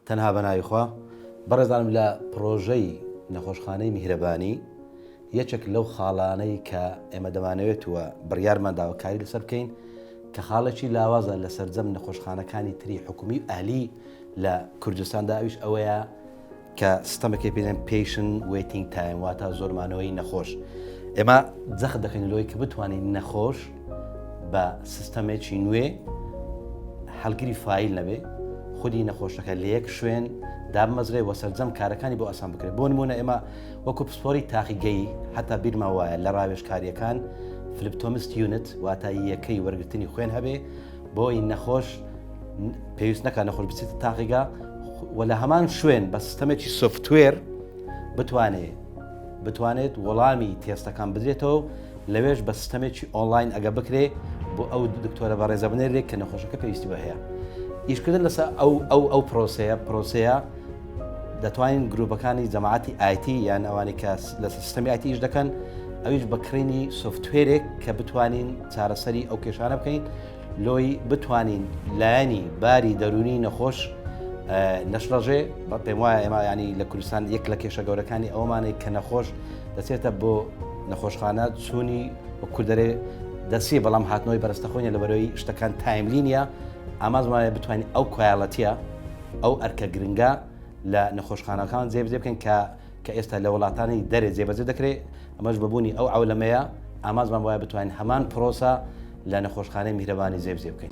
تەنها بە ناوی خوا. بەڕێزانم لە پڕۆژەی نەخۆشخانەی میهرەبانی یەکێک لەو خاڵانەی کە ئێمە دەمانەوێت و بڕیارمان داوە کاری لەسەر بکەین کە خاڵێکی لاوازە لە سەرجەم نەخۆشخانەکانی تری حکومی و ئەهلی لە کوردستاندا ئەویش ئەوەیە کە سیستەمەکەی پێ دەڵێن پێشن وەیتینگ تایم واتە زۆر مانەوەی نەخۆش ئێمە جەخت دەکەین لەوەی کە بتوانین نەخۆش بە سیستەمێکی نوێ هەلگری فیل نەبێ خودی نەخۆشەکە لە یەک شوێن دابمەزرێ وە سەررجەم کارەکانی بۆ ئاسان بکرێت بۆ نمونە ئێمە وەکو پسپۆری تاقیگەی هەتا بیرما وایە لە ڕاوێشکاریەکان فلپتۆمست یونت واتا یەکەی وەرگرتنی خوێن هەبێ بۆی نەخۆش پێویست نەکە نەخۆش بچێت تاقیگا و لە هەمان شوێن بە سیستەمێکی سوفتوێر بتوانێت بتوانێت وەڵامی تێستەکان بدرێتەوە لەوێش بە سیستەمێکی ئۆنلاین ئەگە بکرێ بۆ ئەو دکتۆرە بە ڕێزە بنێرێک کە نەخۆشەکە پێویستی بە هەیە ئیشکردن لەسە ئەو ئەو ئەو پرۆسەیە پرۆسەیە دەتوانین گروپەکانی جەماعتی ئایتی یان ئەوانی کە لە سیستەمی ئایتی ئیش دەکەن ئەویش بەکڕینی سوفتێرێک کە بتوانین چارەسەری ئەو کێشانە بکەین لۆی بتوانین لایەنی باری دەروونی نەخۆش نەشڵەژێ بە پێم وایە ئێمە ینی لە کوردستان یەک لە کێشە گەورەکانی ئەومانێک کە نەخۆش دەچێتە بۆ نەخۆشخانە چوونی و کوردەرێ دەسی بەڵام هاتنەوەی بەرستەخۆینە لە بەرەوەی شتەکان تایملی نیە ئاماز وایە بتوانین ئەو کوالەتە ئەو ئەرکە گرنگە لە نەخۆشخانەکان جێبجێ بکەن کە کە ئێستا لە وڵاتانی دەرێ جێبەجێ دەکرێت، ئەمەش بە بوونی ئەو عەولەمەیە، ئامانجمان بەوایە بتوانین هەمان پرۆسە لە نەخۆشخانەی میهرەبانی جێبجێ بکەین.